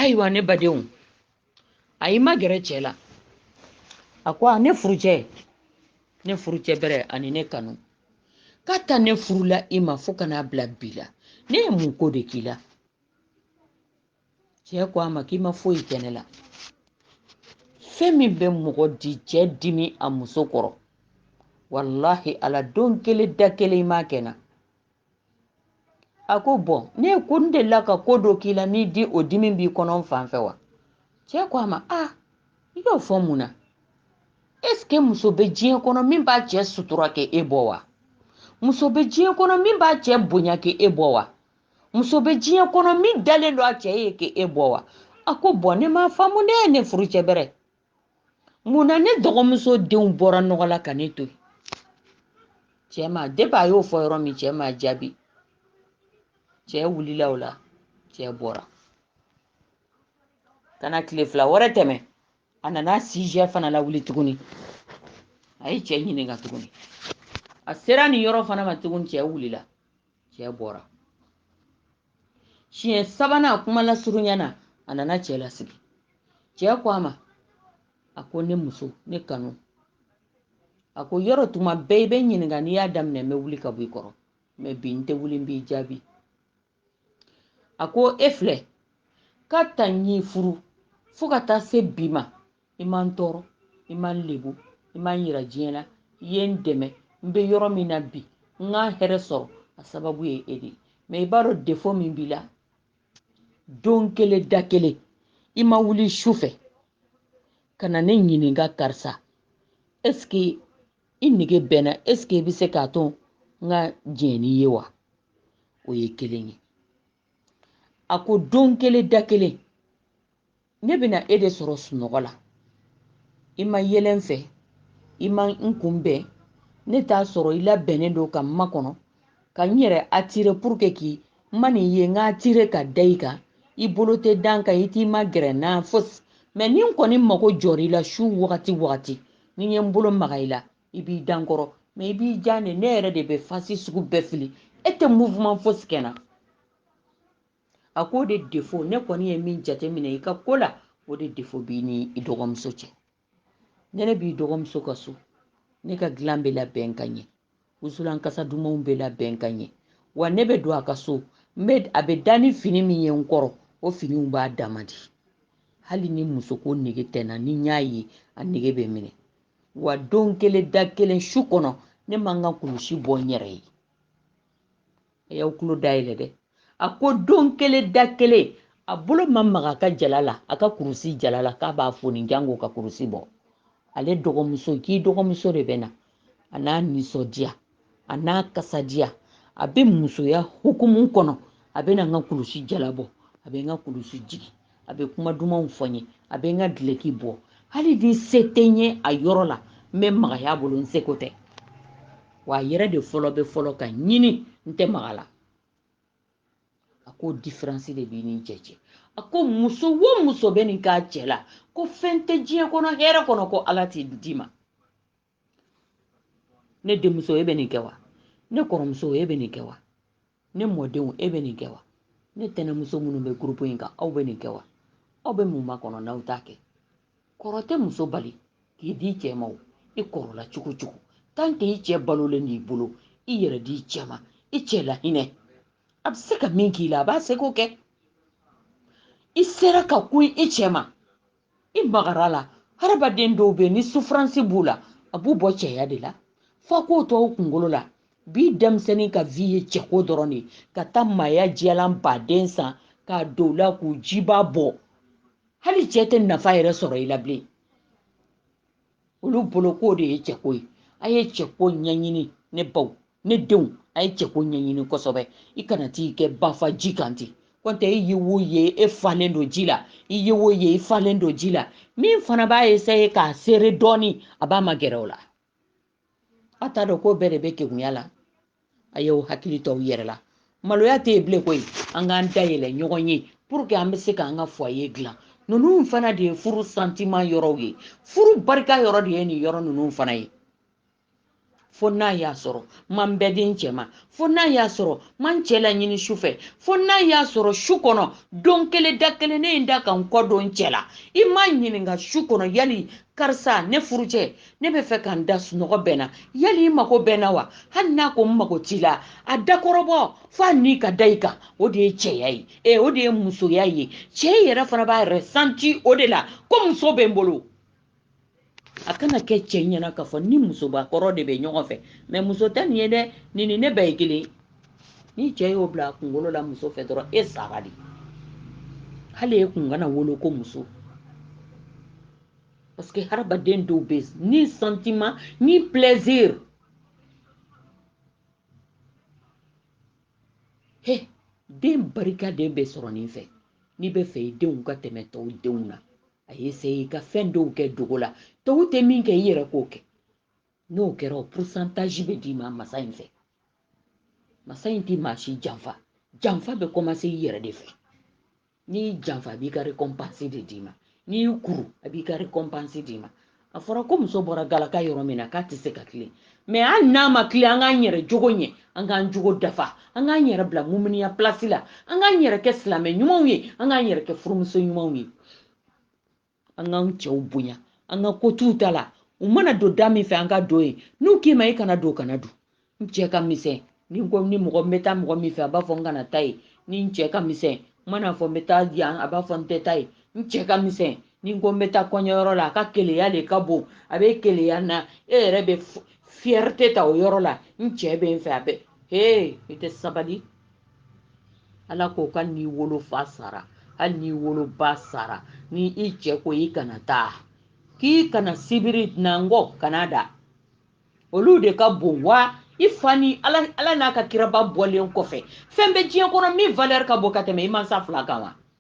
ayiwa ne badenw a y'i magɛrɛ cɛ la a ko a ne furucɛ ne furucɛ bɛrɛ ani ne kanu k'a ta ne furula i ma fo ka n'a bila bi la ne ye mun ko de k'i la cɛ ko a ma k'i ma foyi kɛ ne la fɛn min bɛ mɔgɔ di cɛ dimi a muso kɔrɔ walahi ala don kelen da kelen i m'a kɛ n na a ko bɔn ne ko n delila ka ko dɔ k'i la n'i di o dimi b'i kɔnɔ n fan fɛ wa cɛ ko a ma a i y'o fɔ mun na esike muso bɛ diɲɛ kɔnɔ min b'a cɛ sutura k'e bɔ wa muso bɛ diɲɛ kɔnɔ min b'a cɛ bonya k'e bɔ wa muso bɛ diɲɛ kɔnɔ min dalen don a cɛ ye k'e bɔ wa a ko bɔn ne m'a faamu ne ye ne furucɛ bɛrɛ mun na ne dɔgɔmuso de bɔra nɔgɔ la ka ne to yen cɛ ma depi a y'o fɔ yɔrɔ min cɛ ma jaabi cɛ wulila o la cɛ bɔra ka na tile fila wɛrɛ tɛmɛ a nana sijɛ fana lawuli tuguni a ye cɛ ɲininka tuguni a sera nin yɔrɔ fana ma tuguni cɛ wulila cɛ bɔra siɲɛ sabanan kuma lasurunya na a nana cɛ lasigi cɛ ko a ma a ko ne muso ne kanu a ko yɔrɔ tuma bɛɛ i bɛ n ɲininka n'i y'a daminɛ n bɛ wuli ka bɔ i kɔrɔ mɛ bi n tɛ wuli n b'i jaabi a ko e filɛ k'a ta n y'i furu fo ka taa se bi ma i ma n tɔɔrɔ i ma n lebu i ma n yira diɲɛ na i ye n dɛmɛ n bɛ yɔrɔ min na bi n ka hɛrɛ sɔrɔ a sababu ye e de ye mɛ i b'a dɔn defo min b'i la don kelen da kelen i ma wuli su fɛ ka na ne ɲininka karisa ɛseke i nege bɛ n na ɛseke i bɛ se k'a to n ka diɲɛ n'i ye wa o ye kelen ye a ko don kelen da kelen ne bɛ na e de sɔrɔ sunɔgɔ la i ma yɛlɛ n fɛ i ma n kunbɛn ne t'a sɔrɔ i labɛnnen don ka n makɔnɔ ka n yɛrɛ atire puruke ko n man'i ye n ka atire ka da i kan i bolo tɛ da n kan i t'i magɛrɛ n na fosi mɛ ni n kɔni mago jɔra i la su wagati wagati ni n ye n bolo maga i la i b'i da n kɔrɔ mɛ i b'i jan de ne yɛrɛ de bɛ fasi sugu bɛɛ fili e tɛ mouvement fosi kɛ n na a k'o de defo ne kɔni ye min jateminɛ i ka ko la o de defo b'i ni i dɔgɔmuso cɛ ni ne b'i dɔgɔmuso ka so ne ka dilan bɛ labɛn ka ɲɛ wusulan kasa dumanw bɛ labɛn ka ɲɛ wa ne bɛ don a ka so n bɛ a bɛ da ni fini min ye n kɔrɔ o finiw b'a dama di hali ni musoko nege tɛ n na ni n y'a ye a nege bɛ n minɛ wa don kelen da kelen su kɔnɔ ne ma n ka kulusi bɔ n yɛrɛ ye a y'aw tulo dayɛlɛ dɛ a ko don kelen da kelen a bolo ma maga a ka jala la a ka kurusi jala la k'a b'a foni jango ka kurusi bɔ ale dɔgɔmuso k'i dɔgɔmuso de bɛ na a n'a nisɔndiya a n'a kasadiya a bɛ musoya hukumu kɔnɔ a bɛ na n ka kulusi jala bɔ a bɛ n ka kulusi jigin a bɛ kuma dumanw fɔ n ye a bɛ n ka dileki bɔ hali ni se tɛ n ye a yɔrɔ la n bɛ magaya a bolo n seko tɛ wa a yɛrɛ de fɔlɔ bɛ fɔlɔ ka ɲini n tɛ maga a la a ko diferansi de b'i ni cɛ cɛ a ko muso o muso bɛ nin k'a cɛ la ko fɛn tɛ diɲɛ kɔnɔ hɛrɛ kɔnɔ ko ala t'i d'i ma ne denmuso e bɛ nin kɛ wa ne kɔrɔmuso e bɛ nin kɛ wa ne mɔdenw e bɛ nin kɛ wa ne tɛnɛmuso minnu bɛ gurupu in kan aw bɛ nin kɛ wa aw bɛ mun makɔnɔ n'aw t'a kɛ kɔrɔ tɛ muso bali k'i d'i cɛ ma o i kɔrɔla cogo o cogo tanke i cɛ balolen b'i bolo i yɛrɛ di i cɛ ma i cɛ lahinɛ a bɛ se ka min k'i la a b'a seko kɛ i sera ka kun i cɛ ma i magara a la hadamaden dɔw bɛ ni sufuransi b'u la a b'u bɔ cɛya de la fo k'o to u kunkolo la bi denmisɛnnin ka vi ye cɛko dɔrɔn de ka taa maaya jiyalan baden san k'a don u la k'u jiba bɔ hali cɛ tɛ nafa yɛrɛ sɔrɔ i la bilen olu bolo k'o de ye cɛko ye a ye cɛko ɲɛɲini ne baw ne denw a ye cɛko ɲɛɲini kosɛbɛ i kana t'i kɛ bafa ji kan ten kɔntɛ i ye wo ye e falen don ji la i ye wo ye i falen don ji la min fana b'a eseye k'a sere dɔɔni a b'a magɛrɛ o la a t'a dɔn ko bɛɛ de bɛ kegunya la a y'aw hakili to aw yɛrɛ la maloya tɛ yen bilen koyi an k'an dayɛlɛ ɲɔgɔn ye puruke an bɛ se k'an ka fɔye dilan ninnu fana de ye furu santiman yɔrɔw ye furu barika yɔrɔ de ye nin yɔrɔ ninnu fana ye fo n'a y'a sɔrɔ n ma n bɛɛ di n cɛ ma fo n'a y'a sɔrɔ n ma n cɛ laɲini su fɛ fo n'a y'a sɔrɔ su kɔnɔ don kelen da kelen ne ye n da ka n kɔ don cɛ la i m'a ɲininka su kɔnɔ yali karisa ne furu cɛ ne b'a fɛ ka n da sunɔgɔ bɛ n na yali i mago bɛ n na wa hali n'a ko n mago t'i la a dakɔrɔbɔ f'a ni ka da i kan o de ye cɛya ye ee o de ye musoya ye cɛ yɛrɛ fana b'a yɛrɛ santi o de la ko muso bɛ n bolo a kana kɛ cɛ ɲɛ na k'a fɔ n ni musobakɔrɔ de bɛ ɲɔgɔn fɛ mɛ muso tɛ nin ye dɛ nin ni ne bɛɛ ye kelen ni cɛ y'o bila a kunkolo la muso fɛ dɔrɔn e sara dɛ hali e kun kana wolo ko muso parce que hadamaden dɔw bɛ ni sentiment ni plaisir he den barikaden bɛ sɔrɔ nin fɛ n'i bɛ fɛ i denw ka tɛmɛ tɔw denw na a ye se i ka fɛn dɔw kɛ dogo la tɔw tɛ min kɛ i yɛrɛ k'o kɛ n'o kɛra o pourcentage bɛ d'i ma masa in fɛ masa in tɛ maa si janfa janfa bɛ kɔmanse i yɛrɛ de fɛ n'i y'i janfa a b'i ka récompense de d'i ma n'i y'i kuru a b'i ka récompense d'i ma a fɔra ko muso bɔra galaka yɔrɔ min na k'a tɛ se ka tilen mais hali n'a ma tilen an k'an yɛrɛ jogo ɲɛ an k'an jogo dafa an k'an yɛrɛ bila muminiya pilasi la an k'an yɛrɛ kɛ silamɛ ɲumanw ye an k'an yɛrɛ kɛ furumuso ɲumanw ye an k'an cɛw bonya an ka ko t'u ta la u mana don da min fɛ an ka don yen n'u k'i ma i kana don kana don n cɛ ka misɛn ni ko ni mɔgɔ n bɛ taa mɔgɔ min fɛ a b'a fɔ n kana taa yen ni n cɛ ka misɛn n mana fɔ n bɛ taa yan a b'a fɔ n tɛ taa yen n cɛ ka misɛn ni ko n bɛ taa kɔɲɔyɔrɔ la a ka keleya de ka bon a bɛ keleya na e yɛrɛ bɛ fierté ta o yɔrɔ la n cɛ bɛ n fɛ a bɛ he i tɛ sabali ala ko ka n'i wolofa sara hali n'i woloba sara ni i cɛ ko i kana taa k'i kana sibiri nɔngɔn kana da olu de ka bon wa i fa ni ala n'a ka kiraba bɔlen kɔfɛ fɛn bɛ diɲɛ kɔnɔ min valeur ka bon ka tɛmɛ i mansa fila kan wa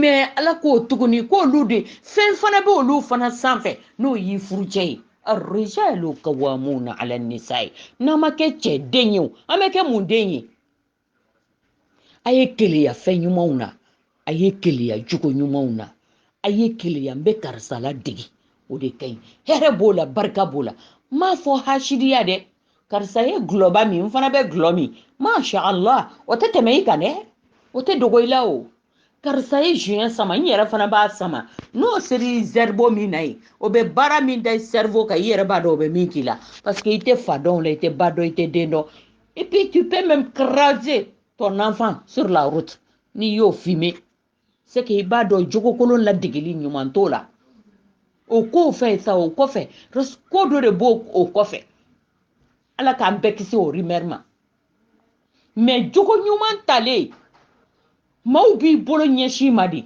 mais ala k'o tuguni k'olu de fɛn fana bɛ olu fana sanfɛ n'o y'i furucɛ ye arijalu kawamuna ala nisayi n'an ma kɛ cɛ den ye o an bɛ kɛ mun den ye a ye keleya fɛn ɲumanw na a ye keleya jogo ɲumanw na a ye keleya n bɛ karisa ladegi o de ka ɲi hɛrɛ b'o la barika b'o la n m'a fɔ hasidiya dɛ karisa ye gulɔba min n fana bɛ gulɔ min masha allah o tɛ tɛmɛ i kan dɛ o tɛ dogo i la o karisa ye joint sama n yɛrɛ fana b'a sama n'o seri zɛribo min na ye o bɛ baara min da i cerveau kan i yɛrɛ b'a dɔn o bɛ min k'i la parce que i tɛ fa dɔn o la i tɛ ba dɔn i tɛ den dɔn et puis tu peux même écraser ton enfant sur la route n'i y'o fumer c'est que i b'a dɔn jogokolon ladegeli ɲuman t'o la o kɔfɛ sa o kɔfɛ ko dɔ de b'o o kɔfɛ ala k'an bɛɛ kisi o rumeur ma mais jogo ɲuman talen maaw b'i bolo ɲɛsin ma de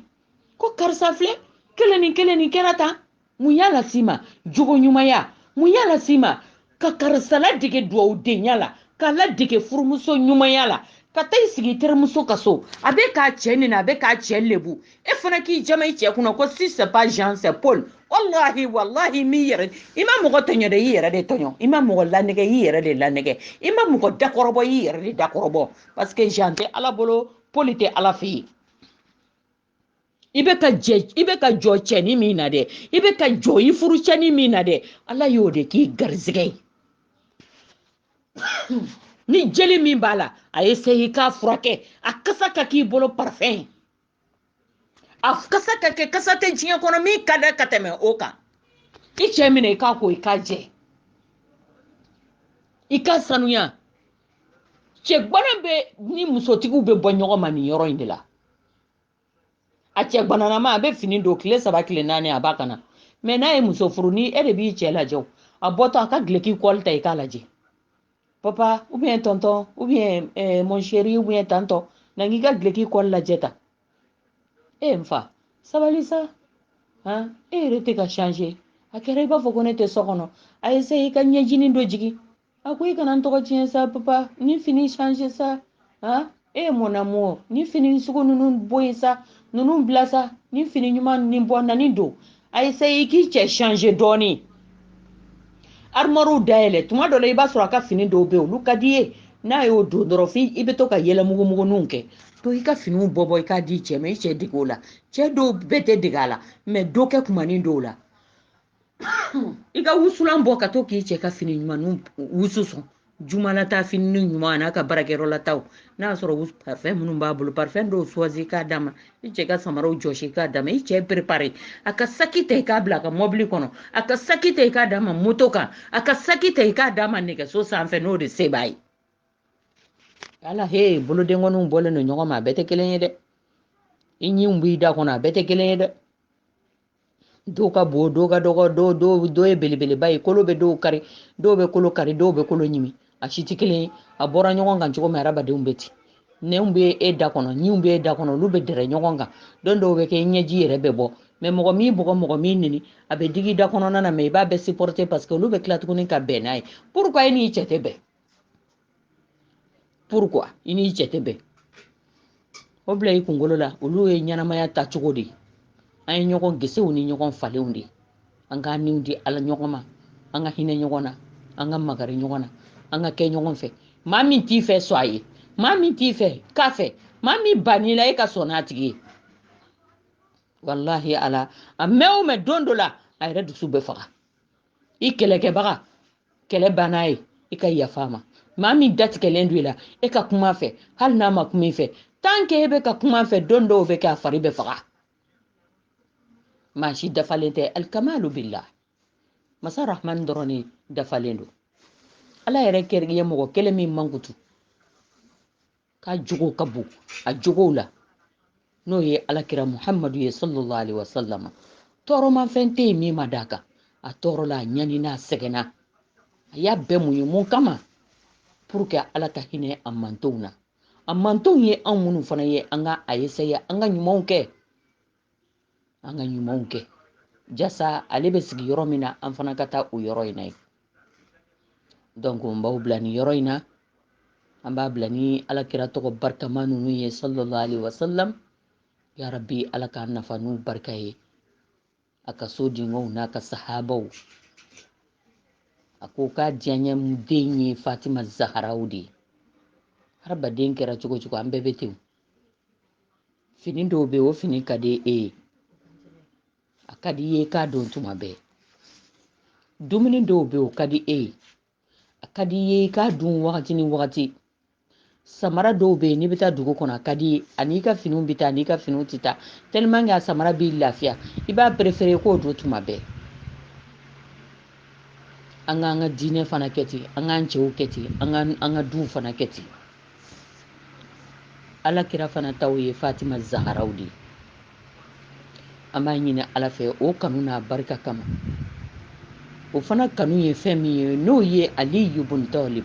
ko karisa filɛ kelen ni kelen ni kɛra tan mun y'a las'i ma jogo ɲumanya mun y'a las'i ma ka karisa ladege duwawudenya la k'a ladege furumuso ɲumanya la ka taa i sigi i terimuso ka so a bɛ k'a cɛ nɛni a bɛ k'a cɛ lebu e fana k'i jama i cɛ kunna ko si c'est pas jean c'est paul walahi walahi m'i yɛrɛ i ma mɔgɔ tɔɲɔ dɛ i yɛrɛ de tɔɲɔ i ma mɔgɔ lanɛgɛ i yɛrɛ de lanɛgɛ i ma mɔgɔ dakɔrɔbɔ i yɛrɛ de dakɔrɔbɔ parce que jean tɛ ala bolo paul tɛ ala fɛ yen i bɛ ka jɛ i bɛ ka jɔ cɛni min na dɛ i bɛ ka jɔ i furu cɛni min na dɛ ala y'o de k'i garizigɛ ye ni jeli min b'a la a essayer i k'a furakɛ a kasa ka k'i bolo parfɛn ye a kasa ka kɛ kasa tɛ diɲɛ kɔnɔ min ka di ka tɛmɛ o kan i cɛ minɛ i k'a ko i k'a jɛ i k'a sanuya cɛ gbana bɛ ni musotigiw bɛ bɔ ɲɔgɔn ma nin yɔrɔ in de la a cɛ gbananama a bɛ fini don tile saba tile naani a b'a kan na mɛ n'a ye muso furu ni e de b'i cɛ lajɛ a bɔtɔ a ka gileki kɔli ta i k'a lajɛ papa ou bien tonton ou bien eh, mon chéri ou bien tantɔ na n k'i ka gileki kɔli lajɛ ta e n fa sabali sa han e yɛrɛ tɛ ka changer a kɛra i b'a fɔ ko ne tɛ so kɔnɔ a essayer i ka ɲɛjinin dɔ jigin a ko i kana n tɔgɔ tiɲɛ sa papa ni fini changer sa han eh mon amour ni fini sugu ninnu bɔ yen sa ninnu bila sa ni fini ɲuman nin bɔ na nin don a essayer i k'i cɛ changer dɔɔnin armoirew dayɛlɛ tuma dɔ la i b'a sɔrɔ a ka fini dɔw bɛ yen olu ka d'i ye n'a y'o don dɔrɔn f'i i bɛ to ka yɛlɛ mugumuguninw kɛ to i ka finiw bɔ bɔ i k'a di cɛ ma i cɛ dege o la cɛ dɔw bɛɛ tɛ dege a la mɛ dɔ kɛ kumanin dɔw la i ka wusulan bɔ ka to k'i cɛ ka fini ɲumanw wusu sɔn jumalata fini ɲuman n'a ka baarakɛyɔrɔlataw n'a y'a sɔrɔ parfɛn minnu b'a bolo parfɛn dɔw choisir k'a d'a ma i cɛ ka samaraw jɔsi k'a d'a ma i cɛ préparer a ka saki ta i k'a bila a ka mɔbili kɔnɔ a ka saki ta i k'a d'a ma moto kan a ka saki ta i k'a d'a ma nɛgɛso sanfɛ n'o de se b'a ye ala he bolodenkɔninw bɔlen don ɲɔgɔn ma a bɛɛ tɛ kelen ye dɛ i ɲinw b'i da kɔnɔ a bɛɛ tɛ kelen ye dɛ dɔw ka bon dɔw ka dɔgɔ dɔw dɔw dɔw ye belebeleba ye kolo bɛ dɔw kari dɔw bɛ kolo kari dɔw bɛ kolo ɲimi a si tɛ kelen ye a bɔra ɲɔgɔn kan cogo min hadamadenw bɛ ten nɛnw bɛ e da kɔnɔ ɲinw bɛ e da kɔnɔ olu bɛ dɛrɛ ɲɔgɔn kan don dɔw bɛ kɛ i ɲɛji yɛrɛ bɛ bɔ mɛ mɔgɔ m'i bugɔ mɔgɔ m'i neni a bɛ digi da kɔnɔna na mɛ i b'a bɛɛ supporter parce que olu bɛ tila tuguni ka bɛn n'a ye pourquoi e n'i cɛ tɛ bɛn pourquoi i n'i cɛ tɛ bɛn o bila i kunkolo la olu ye ɲɛnamaya ta cogo de ye an ye ɲɔgɔn gesew ni ɲɔgɔn falenw de ye an k'an niw di ala ɲɔgɔn ma an ka hinɛ ɲɔgɔn na an ka magari ɲɔgɔn na an ka kɛ ɲɔgɔn fɛ maa min t'i fɛ sɔn a ye maa min t'i fɛ kɛ a fɛ maa min ban'i la e ka sɔn a tigi ye walahi ala a mɛn o mɛn don dɔ la a yɛrɛ dusu bɛ faga i kɛlɛkɛbaga kɛlɛ banna ye i ka yafa a ma maa min datigɛlen don i la e ka kuma a fɛ hali n'a ma kuma i fɛ tant que e bɛ ka kuma a fɛ don dɔw bɛ kɛ a fari bɛ faga maa si dafalen tɛ alikamalu billah masa rahman dɔrɔn de dafalen don ala yɛrɛ kɛrɛkɛ mɔgɔ kelen min mankutu k'a jogo ka bon a jogow la n'o ye alakira muhamadu ye sallallahu alaihi wasallam tɔɔrɔmafɛn tɛ yen min ma d'a kan a tɔɔrɔla a ɲanina a sɛgɛnna a y'a bɛɛ muɲu mun kama pour que ala ka hinɛ a mantonw na a mantonw ye anw minnu fana ye an ka a essayer an ka ɲumanw kɛ an ka ɲumanw kɛ jasa ale bɛ sigi yɔrɔ min na an fana ka taa o yɔrɔ in na ye donc n b'aw bila nin yɔrɔ in na an b'a bila ni alakira tɔgɔ barikama ninnu ye sallallahu alaihi wasallam ya rabbi ala k'an nafa n'u barika ye a ka so denkɛw n'a ka sahabaw a ko k'a diyaɲɛ den ye fatima zaharaw de ye hadamaden kɛra cogo cogo an bɛɛ bɛ ten fini dɔw bɛ yen o fini ka di e ye a ka di i ye k'a don tuma bɛɛ dumuni dɔw bɛ yen o ka di e ye a ka di i ye i k'a dun wagati ni wagati samara dɔw bɛ yen n'i bɛ taa dugu kɔnɔ a ka di i ye a n'i ka finiw bɛ taa a n'i ka finiw tɛ taa tellement que a samara b'i lafiya i b'a préférer k'o don tuma bɛɛ an k'an ka diinɛ fana kɛ ten an k'an cɛw kɛ ten an ka an ka duw fana kɛ ten alakira fana taw ye fatima zaharaw de ye an b'a ɲini ala fɛ o kanu n'a barika kama o fana kanu ye fɛn min ye n'o ye aliyu bun talib